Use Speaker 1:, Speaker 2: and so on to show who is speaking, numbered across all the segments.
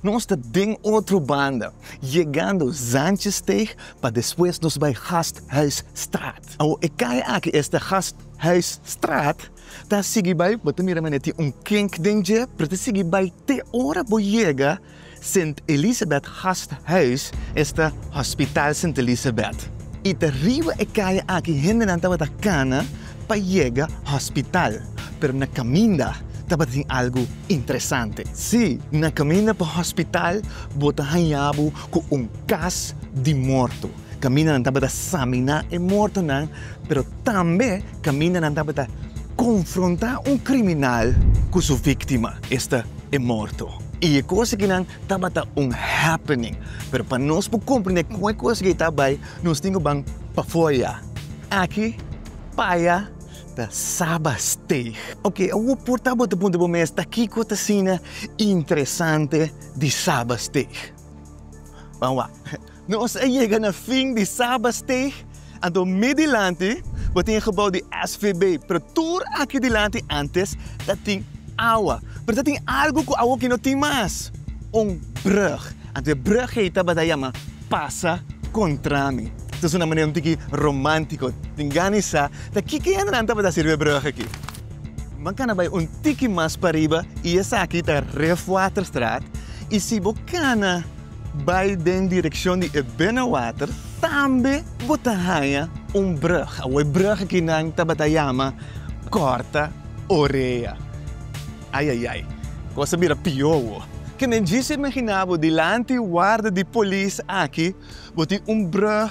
Speaker 1: Nos ta den otro banda, yegando Zantjesteeg pa despues nos bai Gasthuisstraat. Awor e kaya aki, esta Gasthuisstraat, ta sigui bai, bo ta mira manera tin un kink den dje, pero ta sigui bai te ora bo yega Sint Elisabeth Gasthuis, esta Hospitaal Sint Elisabeth. I ta riba e kaya aki hendenan tabata kana pa yega hospital, pero na kaminda tabatin algu interesante. Sí, na kaminda pa hospital bo ta hañá bo ku un kas di morto. Kaminda nan tabata saminá e mortonan, pero tambe kaminda nan tabata konfrontá un kriminal ku su víktima, esta e morto. I e kos aki nan tabata un happening, pero pa nos por komprendé kon e kos aki ta bai, Nos tin ku ban pafoya. Aki paya ta saba steig. Oke, awor por ta bo ta puntra bo mes ta kiko ta asina interesante di saba steig. Ban wak. Nos a yega na fin di saba steig, anto mi dilanti bo tin e gebou di SVB, pero tur aki dilanti antes ta tin awa. Pero ta tin algu ku awor aki no tin mas, un brug. Anto e brugheid tabata yama Pasa Contra Mi. Ta suna manera un tiki romantico. Tin gani sa ta kiko e hendenan tabata sirbi e brug aki. Bo cana bay un tiki mas pariba y esaki ta Refwaterstraat y si bo cana bay den direccion di e binnenwater tambe bo ta haya un brug. Awor e brug aki nan tabata yama Corta Orea. Ai ai ai, kos a bira pió awo. Ke men djis a imaginá bo dilanti warda di polis aki bo tin un brùg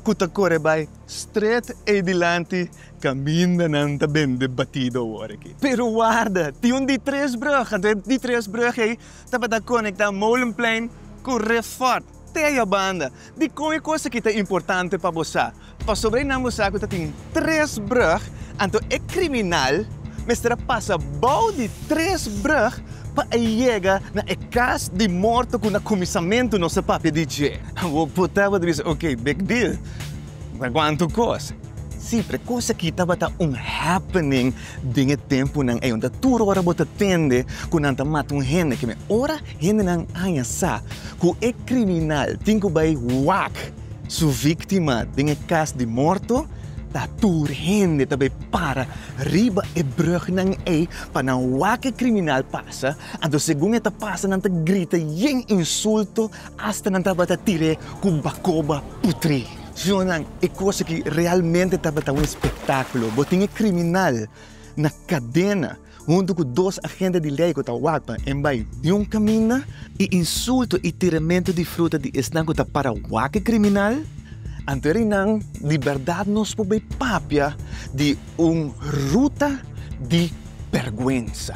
Speaker 1: ku ta kore bai strèt ei dilanti kaminda nan ta bende batido awor aki. Pero warda, tin un di tres brùg, anto e di tres brùg ei tabata konektá Molenplein ku Refort. Tea banda, dikon e kos aki ta importante pa bo sa? Pasobra e nan bo sa ku ta tin tres brug, anto e kriminal mester a pasa bou di tres brug pa e yega na e kas di morto ku na kuminsamentu nos a papia di dje. Bo por tabata bisa, Oke, big deal. Nan kuantu kos. Sí, pero e kos akí tabata un happening den e tempunan ei, unda tur ora bo ta tende ku nan ta mata un hende. Ke me ora hendenan aña sa ku e kriminal tin ku bai wak su víktima den e kas di morto, ta tur hende ta bai para riba e brùgnan ei pa nan wak e kriminal pasa. Anto segun e ta pasa nan ta grita yen insulto Asta nan tabata tir'é ku bakoba putri. Siñornan, e kos aki realmente tabata un espektákulo. Bo tin e kriminal na kadena huntu ku dos agente di lei ku ta wak pa e bai di un kaminda. E insulto i tiramentu di fruta di esnan ku ta para wak e kriminal, anto e reinan di bèrdat nos por bai papia di un ruta di bèrgwensa.